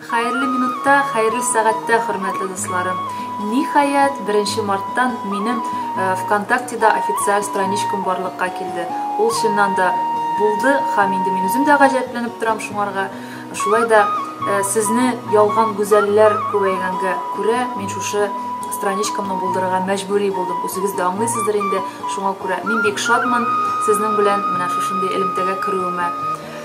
Хәерле минутта, хәерле сәгатьтә, хөрмәтле дусларым. Ниһаять, 1 марттан минем э, ВКонтактеда официаль страничкам барлыкка килде. Ул чыннан да булды һәм инде мин үзем дә гаҗәпләнеп торам шуңарга. Шулай да э, сезне ялган гүзәлләр күбәйгәнгә күрә, мин шушы страничкамны булдырырга мәҗбүри булдым. Үзегез дә аңлыйсыздыр инде, шуңа күрә мин бик шатмын сезнең белән менә шушындый элемтәгә керүемә.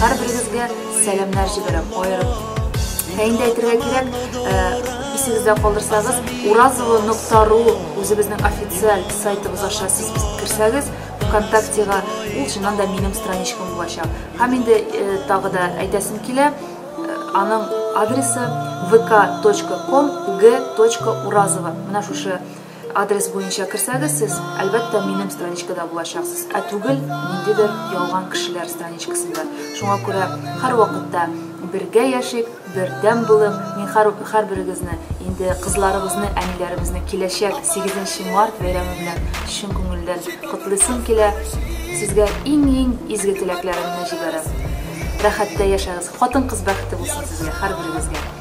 Һәрберегезгә сәламнәр җибәрәм, аерым. Ә инде әйтергә кирәк, исегездә калдырсагыз, уразова.ру үзебезнең официаль сайтыбыз аша сез кирсәгез, ВКонтактега ул чыннан да минем страничкам булачак. Һәм инде тагы да әйтәсем килә, аның адресы vk.com g.urazova. Менә шушы Адрес буенча керсәгез, сез, әлбәттә, минем страничкада булачаксыз, ә түгел ниндидер ялган кешеләр страничкасында. Шуңа күрә һәрвакытта бергә яшик, бердәм булып, мин һәрберегезне, инде кызларыбызны, әниләребезне киләчәк 8 март бәйрәме белән чын күңелдән котлыйсым килә. Сезгә иң-иң изге теләкләремне җибәрәм. Рәхәттә яшәгез, хатын-кыз бәхете булсын сезгә, һәрберегезгә.